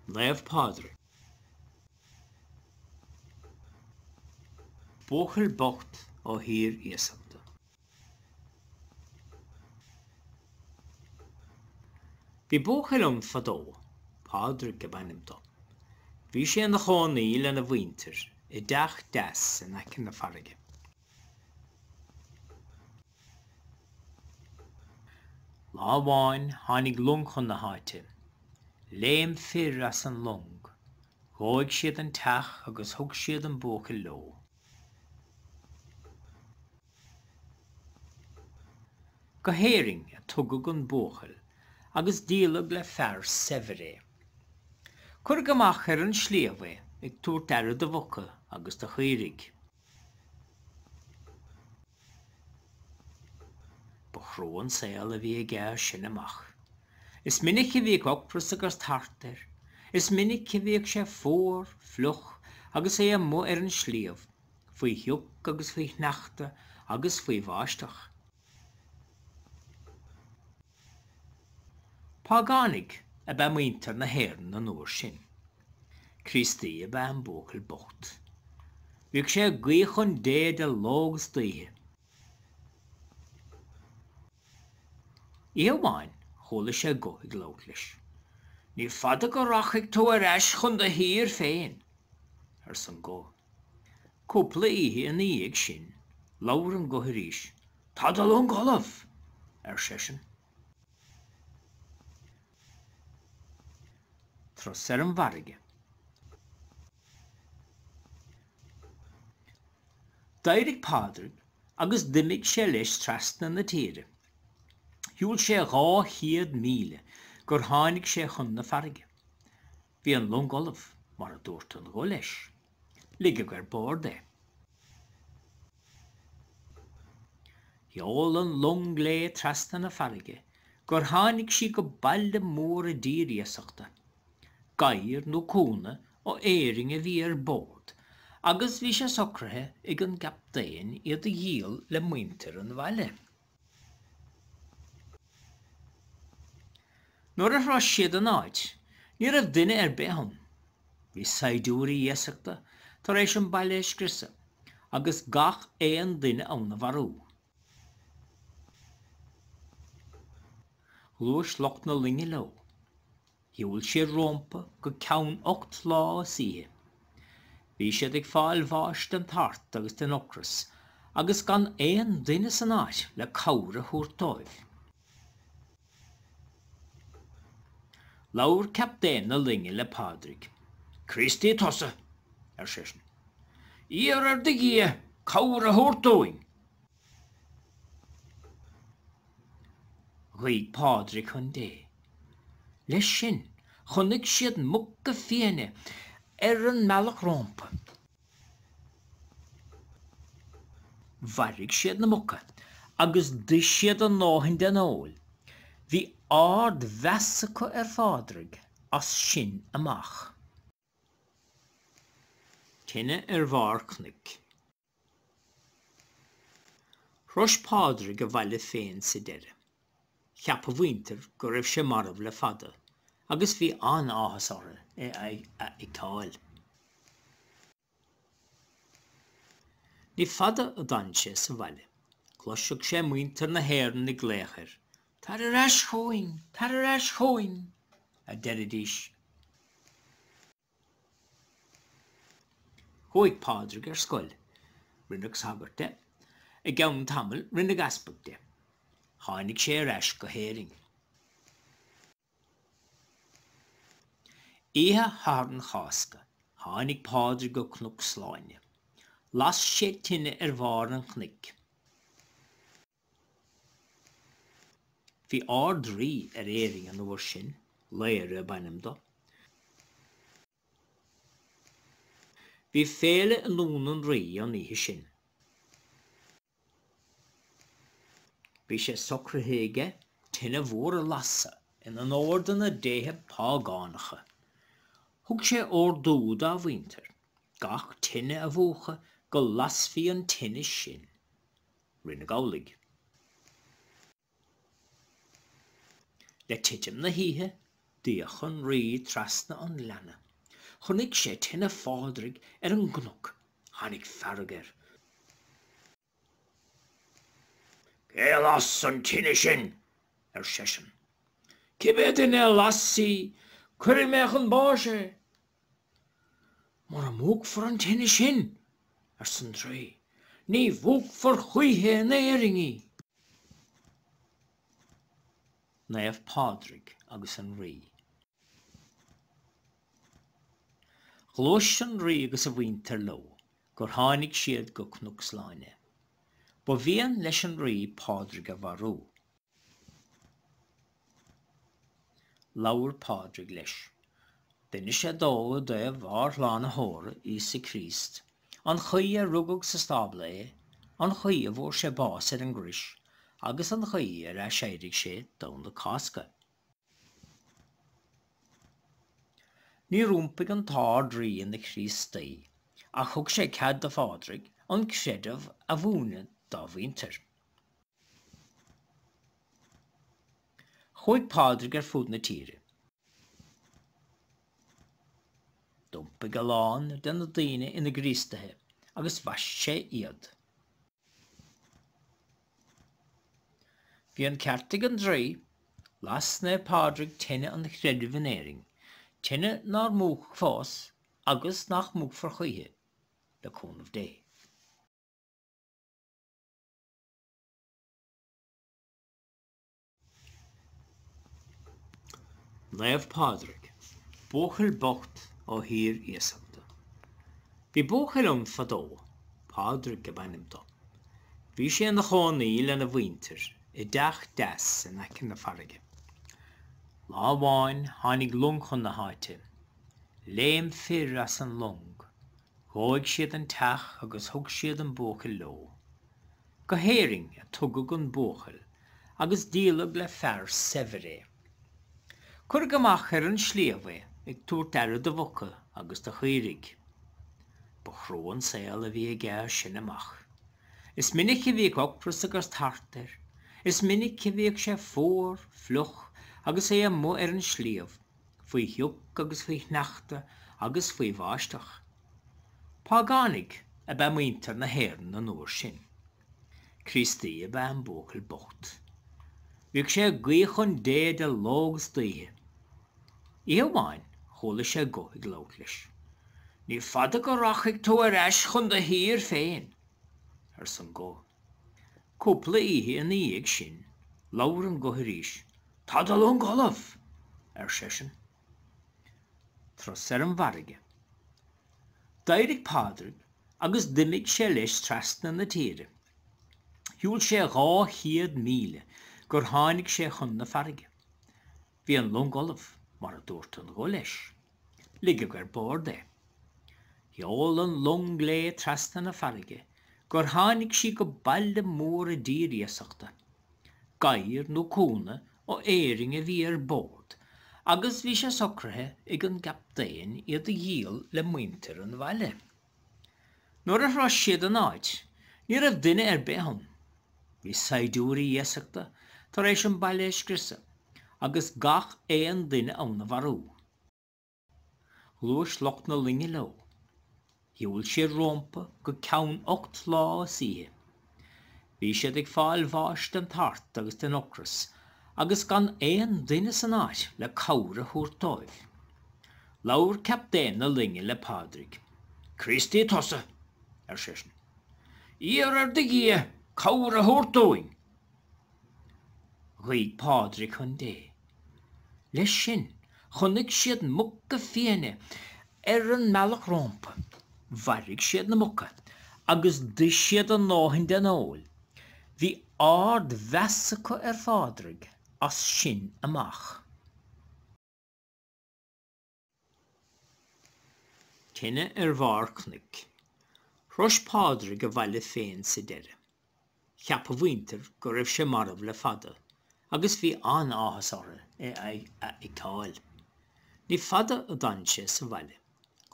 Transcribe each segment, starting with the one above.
Naomh Pádraig. Buachaill bocht ó thír iasachta. Bhí buachaill ann fadó, Pádraig ab ainm do. Bhí sé ina chónaí lena mhuintir i dteach deas in aice na farraige. Lá amháin tháinig long chun na háite. Léim fir as an long. Dhóigh siad an teach agus thug siad an buachaill leo. Go hÉirinn a tugadh an buachaill agus díoladh le fear saibhir é. Cuireadh amach ar an sliabh é ag tabhairt aire do mhuca agus do chaoirigh. Ba chrua an saol a bhí aige sin amach. Is minic a bhíodh ocras agus tart air, is minic a bhíodh sé fuar, fliuch agus é amuigh ar an sliabh faoi shioc agus faoi shneachta agus faoi bháisteach. Págánaigh ab ea muintir na hÉireann an uair sin. Críostaí ab ea an buachaill bocht. Bhíodh sé ag guí chun Dé de ló agus d'oíche. Oíche amháin chuala sé guth ag labhairt leis. Ní fada go rachaidh tú ar ais chun do thír féin, arsa an guth. Cúpla oíche ina dhiaidh sin, labhair an guth arís, Tá do long ullamh, ar seisean. thíos ar an bhfarraige. D'éirigh Pádraig agus d'imigh sé leis trasna na tíre. Shiúl sé dhá chéad míle gur tháinig sé chun na farraige. Bhí an long ullamh, mar a dúirt an guth leis. Ligeadh ar bord é. Sheol an long léi trasna na farraige gur tháinig sí go baile mór i dtír iasachta. Gadhair nó cúnna ó Éirinn a bhí ar bord agus bhí sé socraithe ag an gcaptaen iad a dhíol le muintir an bhaile. Nuair a shrois siad an áit ní raibh duine ar bith ann. Bhí saighdiúirí iasachta tar éis an baile a scriosadh agus gach aon duine ann a mharú. Ghluais lucht na loinge leo. Shiúil siad rómpa go ceann ocht lá is oíche. Bhí siad ag fáil bháis den tart agus den ocras agus gan aon duine san áit le cabhair a thabhairt dóibh. Labhair captaen na loinge le Pádraig. Críostaí tusa! ar seisean. Iarr ar do Dhia cabhair a thabhairt dúinn! Ghuigh Pádraig chun Dé. Leis sin, chonaic siad muca fiaine ar an mbealach rómpa. Mharaigh siad na muca agus d'ith siad a ndóthain den fheoil. Bhí ard-mheas acu ar Phádraig as sin amach. Tine ar Bharr Cnoic. Shrois Pádraig a bhaile féin sa deireadh. Cheap a mhuintir go raibh sé marbh le fada agus bhí an-áthas orthu é a fheiceáil. Ní fada a d'fhan sé sa bhaile. Chloiseadh sé muintir na hÉireann ag glaoch air, 'Tar ar ais chugainn! Tar ar ais chugainn! a deiridís. Chuaigh Pádraig ar scoil. Rinneadh sagart de. I gceann tamaill rinneadh easpag de. Tháinig sé ar ais go hÉirinn. Oíche Shathairn Chásca tháinig Pádraig go Cnoc Sláine. Las sé tine ar bharr an chnoic. Bhí Ard-Rí ar Éirinn an uair sin, Laoghaire ab ainm do. Bhí féile i nDún an Rí an oíche sin. Bhí sé socraithe aige tine mhór a lasadh in onóir do na déithe págánacha. Thug sé ordú dá mhuintir gach tine a mhúchadh go lasfaí an tine sin Rinneadh amhlaidh. Le titim na hoíche, d'fhéach an Rí trasna an ghleanna. Chonaic sé tine Phádraig ar an gcnoc. Tháinig fearg air. Cé a las an tine sin? ar seisean. Cibé duine a las í, cuirfidh mé chun báis é! Mura múchfar an tine sin, arsa an draoi, ní múchfar choíche in Éirinn í. Naomh Pádraig agus an Rí. Ghluais an Rí agus a mhuintir leo gur tháinig siad go Cnoc Sláine. Ba mhian leis an Rí Pádraig a mharú. Labhair Pádraig leis. D'inis sé dó i dtaobh ár Shlánaitheora, Íosa Críost, an chaoi ar rugadh sa stábla é, an chaoi a bhfuair sé bás ar an gcrois, agus an chaoi ar aiséirigh sé Domhnach Cásca. Níor iompaigh an tArd-Rí ina Chríostaí, ach thug sé cead do Phádraig an creideamh a mhúineadh dá mhuintir. Chuaigh Pádraig ar fud na tíre. D'iompaigh a lán de na daoine ina gCríostaithe agus bhaist sé iad. Bhí an ceart ag an draoi, las Naomh Pádraig tine an chreidimh in Éirinn, tine nár múchadh fós agus nach múchfar choíche, le cúnamh Dé. Naomh Pádraig, buachaill bocht ó thír iasachta. Bhí buachaill ann fadó, Pádraig ab ainm dó. Bhí sé ina chónaí lena mhuintir i dteach deas in aice na farraige. Lá amháin tháinig long chun na háite. Léim fir as an long Dhóigh siad an teach agus thug siad an buachaill leo. Go hÉirinn a tugadh an buachaill agus díoladh le fear saibhir é. Cuireadh amach ar an sliabh é ag tabhairt aire do mhuca agus do chaoirigh. Ba chrua an saol a bhí aige as sin amach. Is minic a bhíodh ocras agus tart air. Is minic a bhíodh sé fuar, fliuch agus é amuigh ar an sliabh. faoi shioc agus faoi shneachta agus faoi bháisteach. Págánaigh ab ea muintir na hÉireann an uair sin. Críostaí ab ea an buachaill bocht. Bhíodh sé ag guí chun Dé de ló agus d'oíche. Oíche amháin chuala sé guth ag labhairt leis. Ní fada go rachaidh tú ar ais chun do thír féin, arsa an guth. Cúpla oíche ina dhiaidh sin, labhair an guth arís. Tá do long ullamh, ar seisean. Tros ar an bhfarraige. D'éirigh Pádraig agus d'imigh sé leis trasna na tíre. Shiúil sé dhá chéad míle gur tháinig sé chun na farraige. Bhí an long ullamh, mar a dúirt an guth leis. Ligeadh ar bord é. Sheol an long léi trasna na farraige gur tháinig sí go baile mór i dtír iasachta. Gadhair nó cúnna ó Éirinn a bhí ar bord agus bhí sé socraithe ag an gcaptaen iad a dhíol le muintir an bhaile. Nuair a shrois siad an áit, ní raibh duine ar bith ann. Bhí saighdiúirí iasachta tar éis an baile a scriosadh agus gach aon duine ann a mharú. Ghluais lucht na loinge leo. Shiúil siad rómpa go ceann ocht lá is oíche. Bhí siad ag fáil bháis den tart agus den ocras agus gan aon duine san áit le cabhair a thabhairt dóibh. Labhair captaen na loinge le Pádraig. Críostaí tusa! ar seisean. Iarr ar do Dhia cabhair a thabhairt dúinn! Ghuigh Pádraig chun Dé. Leis sin, chonaic siad muca fiáine Ar an mbealach rómpa, mharaigh siad na muca agus d'ith siad a ndóthain den fheoil. Bhí ardmheas acu ar Phádraig as sin amach. Tine ar bharr cnoic. Shrois Pádraig a bhaile féin sa deireadh. Cheap a mhuintir go raibh sé marbh le fada agus bhí an-áthas orthu é a fheiceáil. Ní fada a d'fhan sé sa bhaile.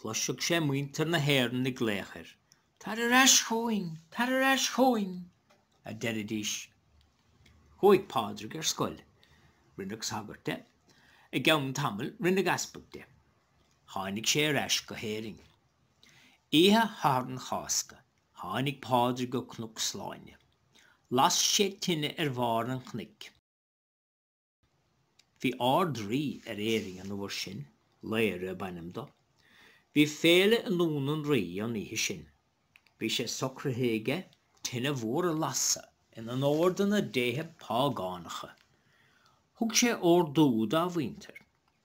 Chloiseadh sé muintir na hÉireann ag glaoch air, 'Tar ar ais chugainn! Tar ar ais chugainn! a deiridís. Chuaigh Pádraig ar scoil. Rinneadh sagart de. I gceann tamaill rinneadh easpag de. Tháinig sé ar ais go hÉirinn. Oíche Shatharn Chásca. Tháinig Pádraig go Cnoc Sláine. Las sé tine ar bharr an chnoic. Bhí Ard-Rí ar Éirinn an uair sin, Laoghaire ab ainm dó. Bhí féile i nDún an Rí an oíche sin. Bhí sé socraithe aige tine mhór a lasadh in onóir do na déithe págánacha. Thug sé ordú dá mhuintir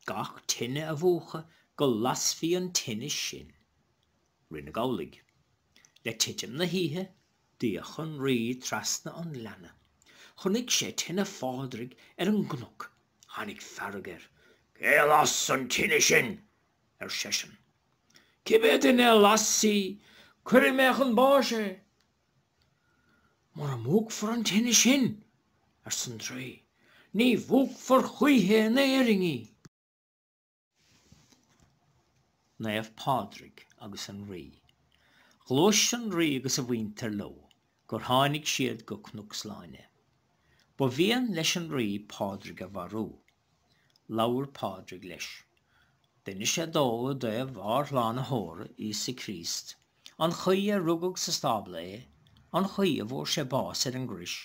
gach tine a mhúchadh go lasfaí an tine sin. Rinneadh amhlaidh. Le titim na hoíche, d'fhéach an Rí trasna an ghleanna. Chonaic sé tine Phádraig ar an gcnoc. Tháinig fearg air. Cé a las an tine sin? ar seisean. Cibé duine a las í, cuirfidh mé chun báis é. Mura múchfar an tine sin, arsa an draoi, ní mhúchfar choíche in Éirinn í. Naomh Pádraig agus an Rí. Ghluais an Rí agus a mhuintir leo gur tháinig siad go Cnoc Sláine. Ba mhian leis an Rí Pádraig a mharú. Labhair Pádraig leis. D'inis sé dó i dtaobh ár Shlánaitheora, Íosa Críost, an chaoi ar rugadh sa stábla é, an chaoi a bhfuair sé bás ar an gcrois,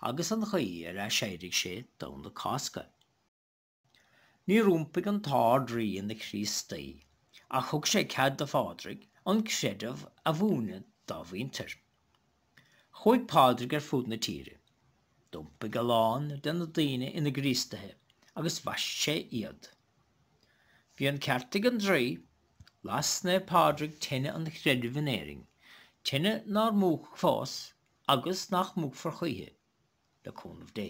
agus an chaoi ar aiséirigh sé Domhnach Cásca. Níor iompaigh an tArd-Rí ina Chríostaí, ach thug sé cead do Phádraig an creideamh a mhúineadh dá mhuintir. Chuaigh Pádraig ar fud na tíre. D'iompaigh a lán de na daoine ina gCríostaithe agus bhaist sé iad. Bhí an ceart ag an draoi, las Naomh Pádraig teine an chreidimh in Éirinn, teine nár múchadh fós agus nach múchfar choíche, le cúnamh Dé.